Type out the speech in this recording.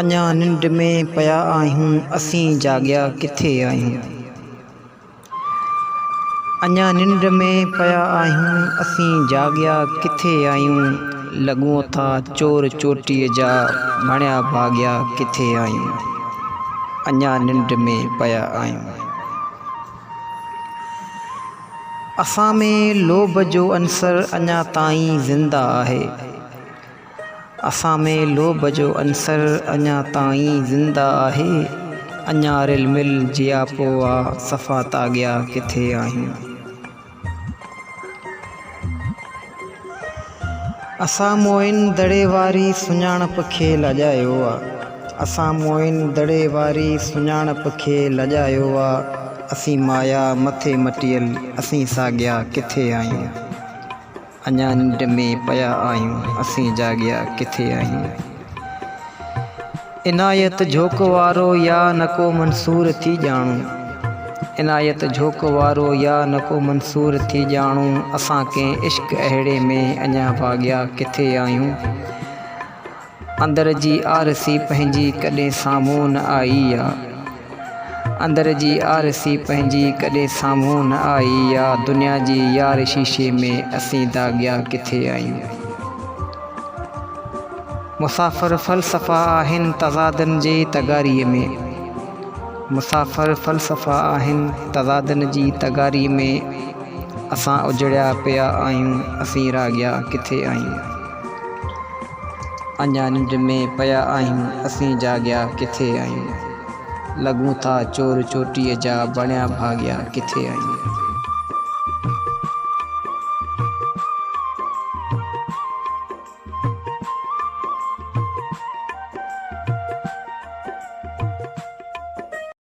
اڃا ننڊ ۾ پيا آهيون، اسين جاڳيا ڪٿي آهيون. اڃا ننڊ ۾ پيا آهيون اسين جاڳيا ڪٿي آهيون لڳون ٿا چور چوٽيء جا مڻيا ڀاڳيا ڪٿي آهيون اڃا ننڊ ۾ پيا آهيون اسان ۾ لوڀ جو عنصر اڃا تائين زنده آهي. اسان ۾ لوڀ جو عنصر اڃا تائين زنده آهي، اڃا رل مل جياپو آ، صفا تاڳيا ڪٿي آهيون. اسان موئن دڙي واري سڃاڻپ کي لڄايو آ، اسان موئن دڙي واري سڃاڻپ کي لڄايو آ، اسين مايا مٿي مٽيل، اسين ساڳيا ڪٿي آهيون. اڃا ننڊ ۾ پيا آهيون اسين جاڳيا ڪٿي آهيون. عنايت جھوڪ وارو يا نڪو منصور ٿي ڄاڻون عنايت جھوڪ وارو يا نڪو منصور ٿي ڄاڻون اسان ڪنهن عشق اهڙي ۾ اڃا ڀاڳيا ڪٿي آهيون اندر جي آرسي پنهنجي ڪڏهن سامهون نه آئي آ اندر جي آرسي پنهنجي ڪڏهن سامهون نه آئي آ دنيا جي يار شيشي ۾ اسين داغيا ڪٿي آهيون مسافر فلسفا آهن تضادن جي تغاري ۾ مسافر فلسفا آهن تضادن جي تغاري ۾ اسان اجڙيا پيا آهيون اسين راڳيا ڪٿي آهيون. اڃا ننڊ ۾ پيا آهيون اسين جاڳيا ڪٿي آهيون لڳون ٿا چور چوٽيء جا بڻيا ڀاڳيا ڪٿي آهيون.